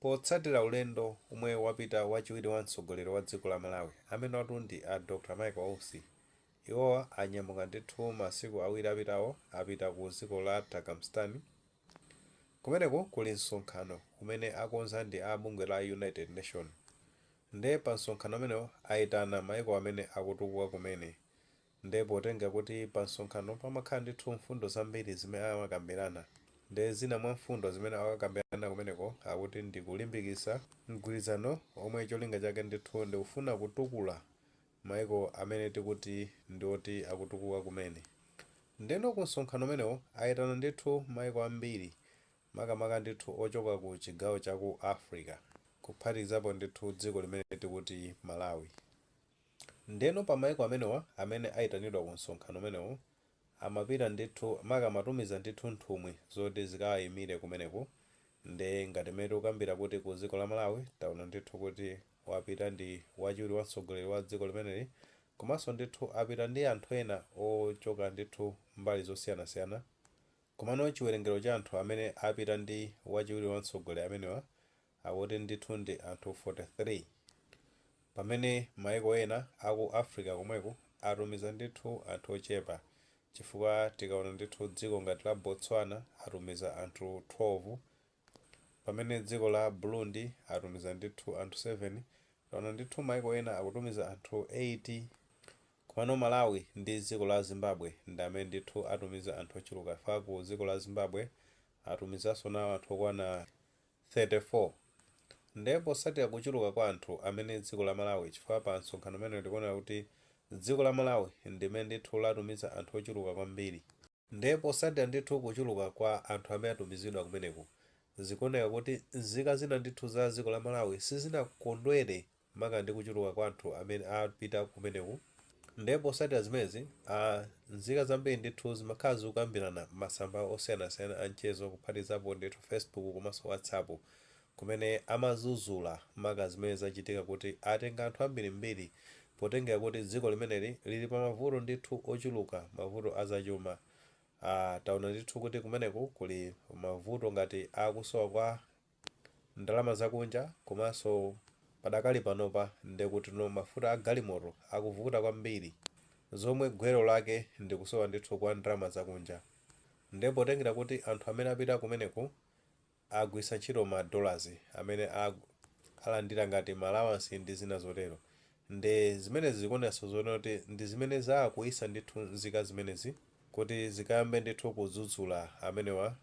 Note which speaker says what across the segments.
Speaker 1: Potsatira ulendo omwe apita wachiwiri wa mtsogoleri wa dziko la Malawi amenotu ndi a Dr Michael Usi, iwowa anyamuka ndithu masiku awiri apitawo apita ku dziko la Turkmenistan kumeneku kuli msonkhano umene akonza ndi a bungwe la United Nations nde pa msonkhano umenewu aitana maiko amene akutukuka kumene Nde potenga kuti pa msonkhano pamakhala ndithu mfundo zambiri zimene amakambirana, nde zina mwa mfundo zimene akakambirana kumeneko akuti ndi kulimbikitsa mgwirizano omwe cholinga chake ndithu ndi kufuna kutukula maiko amene tikuti ndi oti akutukuka kumene. Ndeno ku msonkhano umenewo aitana ndithu maiko ambiri makamaka ndithu ochoka ku chigawo cha ku Africa kuphatikizapo ndithu dziko limene tikuti Malawi. Ndiyeno pa mayiko amenewa amene ayitanidwa ku msonkhano umenewu amapita ndithu maka amatumiza ndithu nthumwi zoti zikawayimire kumeneko nde ngati mmene tikukambira kuti ku dziko la Malawi taona ndithu kuti wapita ndi wachiwiri wa mtsogoleri wa dziko limeneli komanso ndithu apita ndi anthu ena ochoka ndithu mbali zosiyanasiyana komano chiwerengero cha anthu amene apita ndi wachiwiri wa mtsogoleri amenewa Akuti ndithu ndi anthu 43 pamene maiko ena aku Africa komweku atumiza ndithu anthu ochepa chifukwa tikaona ndithu dziko ngati la Botswana atumiza anthu 12 pamene dziko la Burundi atumiza ndithu anthu 7 taona ndithu maiko ena akutumiza anthu 8 komano Malawi ndi dziko la Zimbabwe ndi amene ndithu atumiza anthu ochuluka chifukwa ku dziko la Zimbabwe atumizanso nawo anthu okwana 34 nde potsatira kuchuluka kwa anthu amene dziko la Malawi chifukwa pa msonkhano umenewu tikuonera kuti dziko la Malawi ndimene ndithu latumiza anthu ochuluka kwambiri, nde potsatira ndithu kuchuluka kwa anthu amene atumizidwa kumeneku zikuoneka kuti nzika zina ndithu za dziko la Malawi sizinakondwere maka ndi kuchuluka kwa anthu amene apita kumeneku nde potsatira zimenezi a nzika zambiri ndithu zimakhala zikukambirana masamba osiyanasiyana a mchezo kuphatikizapo ndithu Facebook komanso WhatsApp kumene amadzudzula maka zimene zachitika kuti atenga anthu ambirimbiri potengera kuti dziko limeneli lili pa mavuto ndithu ochuluka mavuto a zachuma a taona ndithu kuti kumeneku kuli mavuto ngati akusowa kwa ndalama zakunja komanso padakali panopa ndekutino mafuta a galimoto akuvuta kwambiri zomwe gwero lake ndikusowa ndithu kwa ndalama zakunja nde potengera kuti anthu amene apita kumeneko agwiritsa ntchito ma dollars amene alandira ngati ma allowance ndi zina zotero nde zimenezi zikuonetsa zoonera kuti ndi zimene zakwiyitsa ndithu nzika zimenezi kuti zikayambe ndithu kudzudzula amenewa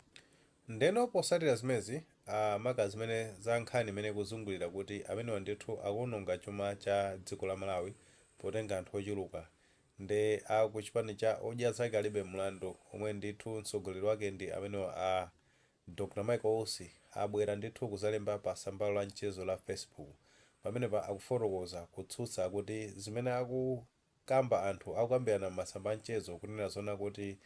Speaker 1: Ndeno posatira zimezi a maka zimene za nkhani imene ikuzungulira kuti amenewa ndithu akuononga chuma cha dziko la Malawi potenga anthu ochuluka nde a ku chipani cha Odya Zake Alibe Mlandu omwe ndithu mtsogoleri wake ndi amenewa a Dr Michael Usi abwera ndithu kuzalemba pa tsambalo la mchezo la Facebook pamenepa akufotokoza kutsutsa kuti zimene aku kamba anthu akukambirana m'masamba a mchezo kunena zoona kuti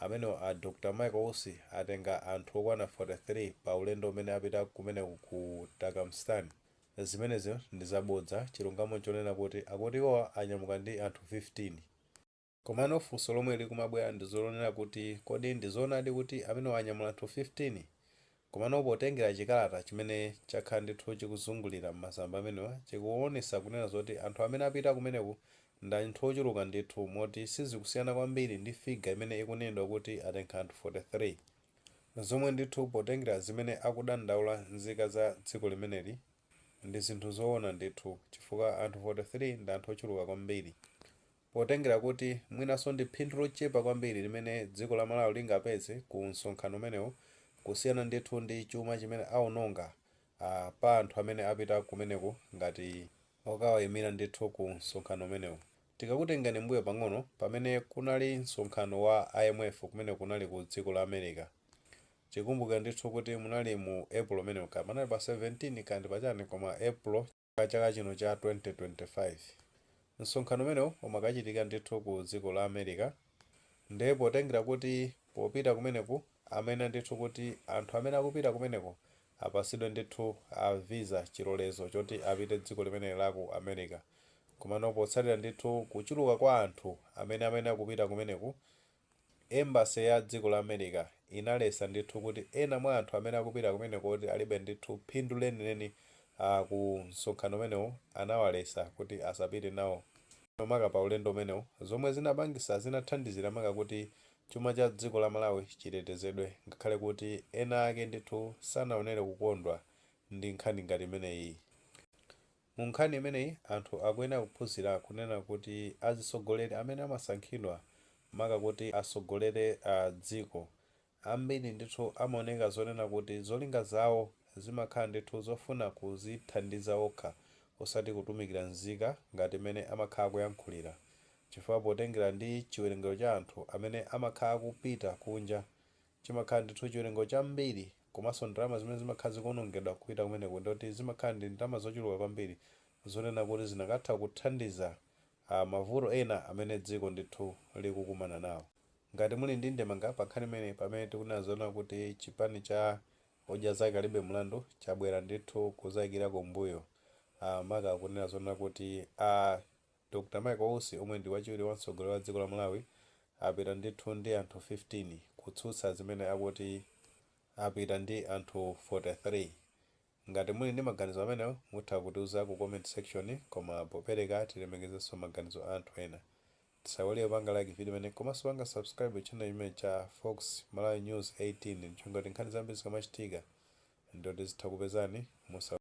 Speaker 1: amenewa a Dr Michael Usi atenga anthu okwana 43 pa ulendo umene apita kumeneko ku Turkmenistan zimenezi ndi zabodza chilungamo nchonena kuti akuti iwowa anyamuka ndi anthu 15 komano funso lomwe likumabwera ndilonena kuti kodi ndizoonadi kuti amenewa anyamula anthu 15? Komano potengera chikalata chimene chakhala ndithu chikuzungulira m'masamba amenewa chikuonesa kunena zoti anthu amene apita kumeneku ndi anthu ochuluka ndithu moti sizikusiyana kwambiri ndi figure imene ikunenedwa kuti atenga anthu 43 zomwe ndithu potengera zimene akudandaula nzika za dziko limeneli ndi zinthu zoona ndithu chifukwa anthu 43 ndi anthu ochuluka kwambiri Potengera kuti mwinanso ndi phindu lochepa kwambiri limene dziko la Malawi lingapeze ku msonkhano umenewu kusiyana ndithu ndi chuma chimene aononga a pa anthu amene apita kumeneku ngati okawaimira ndithu ku msonkhano umenewu. Tikakutengani mbuyo pang'ono pamene kunali msonkhano wa IMF kumene kunali ku dziko la America. Tikumbukira ndithu kuti munali mu April umenewo kaya panali pa 17 kaya ndi pa chani koma April. A chaka chino cha 2025, msonkhano umenewu umakachitika ndithu ku dziko la America nde potengera kuti popita kumeneku amayenera ndithu kuti anthu amene akupita kumeneko apasidwe ndithu a visa, chilolezo choti apite dziko limene la ku America, komano potsatira ndithu kuchuluka kwa anthu amene amayenera kupita kumeneku Embassy ya dziko la America inalesa ndithu kuti ena mwa anthu amene akupita kumeneko kuti alibe ndithu phindu lenileni aa ku msonkhano umenewu anawalesa kuti asapite nawo maka pa ulendo umenewu zomwe zinapangisa zinathandizira maka kuti chuma cha dziko la Malawi chitetezedwe ngakhale kuti ena ake ndithu sanaonere kukondwa ndi nkhani ngati imeneyiyi. Mu nkhani imeneyi, anthu akuyenera kuphunzira kunena kuti azitsogoleri amene amasankhidwa maka kuti atsogolere dziko, ambiri ndithu amaoneka zonena kuti zolinga zawo zimakhala ndithu zofuna kuzithandiza okha osati kutumikira nzika ngati mmene amakhala akuyankhulira chifukwa potengera ndi chiwerengero cha anthu amene amakhala akupita kunja Chimakhala ndithu chiwerengero chambiri komanso ndalama zimene zimakhala zikuonongedwa kupita kumeneko ndiyoti zimakhala ndi ndalama zochuluka kwambiri zonena kuti zinakatha kuthandiza mavuto ena amene dziko ndithu likukumana nawo. Ngati muli ndi ndemanga pa nkhani imeneyi pamene tikunena zonena kuti chipani cha Odya Zake Alibe Mlandu chabwera ndithu kudzaikira kumbuyo maka kunena zonena kuti a. Dr Michael Usi omwe ndi wachiwiri wa mtsogoleri wa dziko la Malawi apita ndithu ndi anthu 15 kutsutsa zimene akuti apita ndi anthu 43. Ngati muli ndi maganizo amenewo mutha kutiuza ku comment section koma popereka tilemekezenso maganizo a anthu ena. Tisaiwale kupanga like video imeneyi komanso kupanga subscribe channel chimenechi cha Fox Malawi News 18 ndi cholinga choti nkhani zambiri zikamachitika ndiyoti tizitha kukupezani musa.